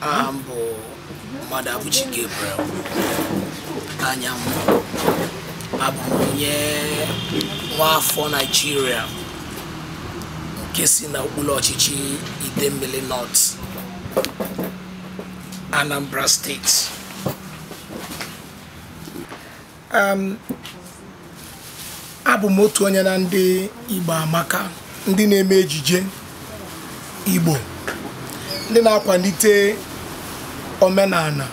aha m bụ Mmadụabụchi Gabriel Anyanwụ abụ m onye nwaafọ Naijiria nke si na okpuru ọchịchị Idemmili North Anambra steeti um, abụ m otu onye na ndị Igbo amaka ndị na-eme ejije Igbo ndị na-akwanite omenala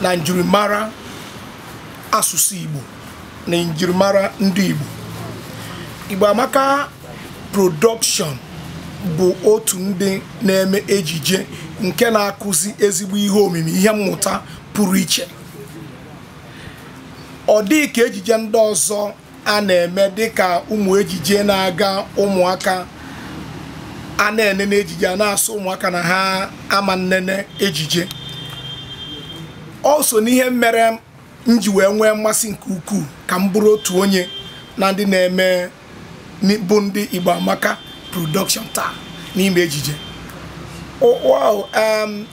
na njirimara asụsụ Igbo na njirimara ndị Igbo Igbo amaka production bụ otu ndị na-eme ejije nke na-akụzi ezigbo ihe omimi ihe mmụta pụrụ iche ọ dịghị ka ejije ndị ọzọ a na-eme dịka ụmụ ejije na-aga ụmụaka a na-enene ejije a na-asị ụmụaka na ha ama nnene ejije o so n'ihe mere m ji wee nwee mmasị nke ukwuu ka m bụrụ otu onye na ndị na-eme bụ ndị Igbo Amaka production taa n'ime ejije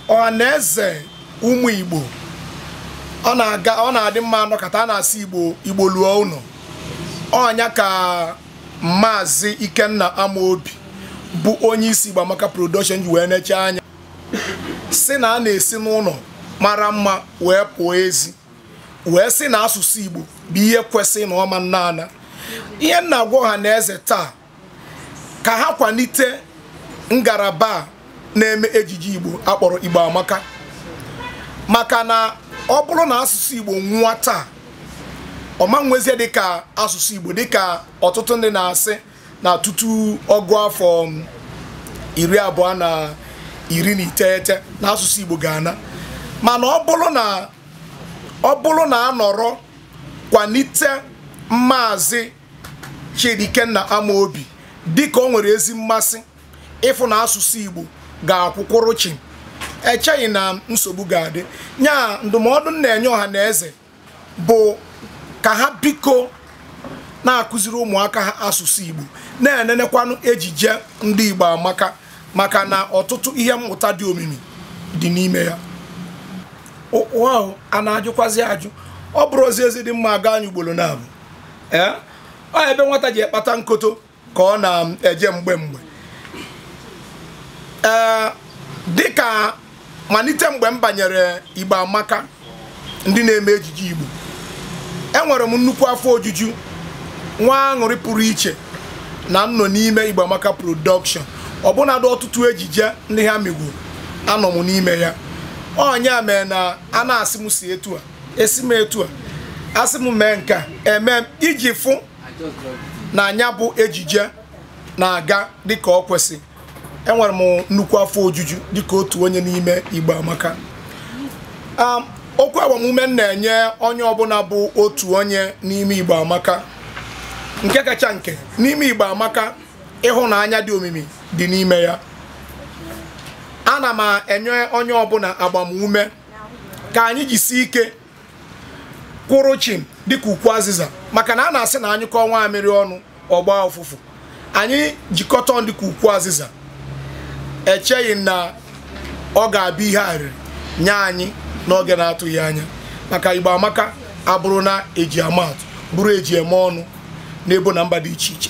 ọha na eze ụmụ Igbo ọ na-adị mma anọkọta a na-asị Igbo luo ụnọ ọ nya ka maazị Ikenna Amaobi bụ onye isi Igbo Amaka production ji wee neche anya sị na a na-esi n'ụnọ mara mma wee pụọ ezi wee sị na asụsụ Igbo bụ ihe kwesị na ọ ma nna ana ihe m na-agwa ọha na eze taa ka ha kwanite ngalaba na-eme ejije Igbo a kpọrọ Igbo Amaka maka na ọ bụrụ na asụsụ Igbo nwụọ taa o ma nwezie dịka asụsụ Igbo dịka ọtụtụ ndị na-asị na tutu ọgụ afọ iri abụọ na iri na iteghete na asụsụ Igbo ga-ana mana ọ bụrụ na ọ bụrụ na a nọrọ kwanite maazị Chidi Ikenna Amaobi dịka o nwere ezi mmasị ịfụ na asụsụ Igbo ga-akwụkwụrụ chịm echeghị m na nsogbu ga-adị nya ndụmọdụ m na-enye ọha na eze bụ ka ha biko na-akụziri ụmụaka ha asụsụ igbo na-enenekwanụ ejije ndị igbo amaka maka na ọtụtụ ihe mmụta dị omimi dị n'ime ya a na-ajụkwazi ajụ ọ bụrụ ozi ezi dị mma a gaa nya ugboro naabọ ee ọ ebe nwata ji ekpata nkoto ka ọ na-eje mgbe mgbe ee dịka malite mgbe m banyere Igbo Amaka ndị na-eme ejije Igbo enwere m nnukwu afọ ojuju nwee aṅụrị pụrụ iche na m nọ n'ime Igbo Amaka production ọbụnadụ ọtụtụ ejije ndị ha mego anọ m n'ime ya ọ nya mee na a na-asị m si etu a esi m etu a a sị m mee nke a eme iji fụ na nya bụ ejije na-aga dịka o kwesị enwere m nnukwu afọ ojuju dịka otu onye n'ime Igbo Amaka um, okwu agbamume m na-enye onye ọbụla bụ otu onye n'ime Igbo Amaka nke kacha nke n'ime Igbo Amaka ịhụnanya dị omimi dị n'ime ya ana m enye onye ọbụla agbamume ka anyị jisie ike kwụrụ chim dịka ukwu azịza maka na a na-asị na a nyụkọọ nwamịrị ọnụ ọ gbaa ụfụfụ anyị jikọta ọnụ dịka ukwu azịza echeghị m na ọ ga-abụ ihe arịrị nye anyị n'oge na-atụghị anya maka Igbo Amaka abụrụna e ji ama atụ bụrụ e ji eme ọnụ n'ebo na mba dị iche iche